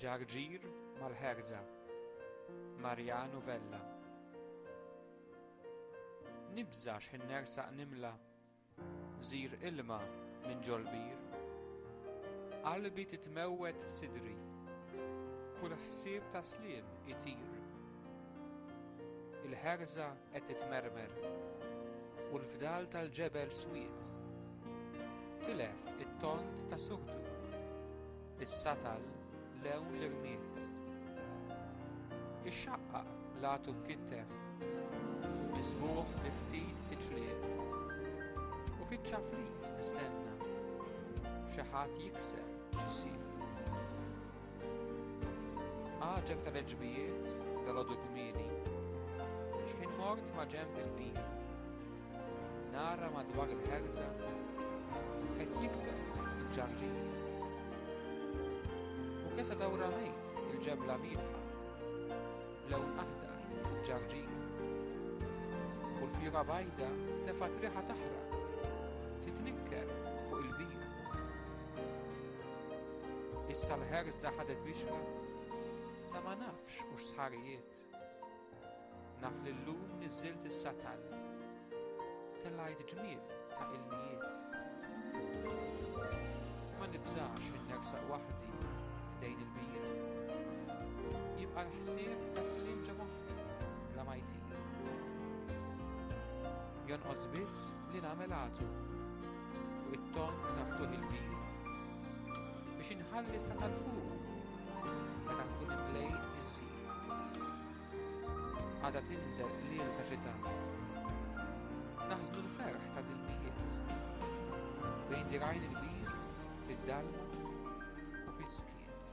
Ġarġir mal-ħerża, Mariano Vella. Nibża' x'ħin nersaq nimla' gżir ilma minn ġol-bir. Qalbi titmewwed f'sidri, kull ħsieb ta' sliem itir. Il-ħerża qed titmermer u l-fdal tal-ġebel swied tilef it-tont ta' suħtu issa tal lewn li rmiet ixxaqqaq l-għatu mkittef miżmugħ bi ftit tiċliq u fiċ-ċafliż nistenna xi ħadd jikser xi sieq. Għaġeb tal-għeġbijiet, dalgħodu kmieni, x'ħin mort maġenb il-bir, nara madwar il-ħerża qed jikber il-ġarġieri. U kesa dawra mejt il-ġebla mielħa, b'lewn aħdar il-ġarġieri. U l-fjura bajda tefgħet riħa taħraq, titnikker fuq il-bir. Issa l-ħerża ħadet bixra ta' ma nafx u x'sħarijiet. Naf li llum niżżilt is-satal, telgħajt ġmiel ta' ilmijiet. Ma nibżax li nersaq waħdi ħdejn il-bir. Jibqa' l-ħsieb ta' sliem ġo moħħi bla ma jtir. Jonqos biss li nagħmel għatu. fuq it-tond ta' ftuħ il-bir biex inħalli sa tal-fuq meta nkun imlejt biż-żiq. Għadha tinżel qliel ta' xita. Naħżnu l-ferħ ta' l-ilmijiet bejn dirgħajn il-bir fid-dalma u fis-skiet.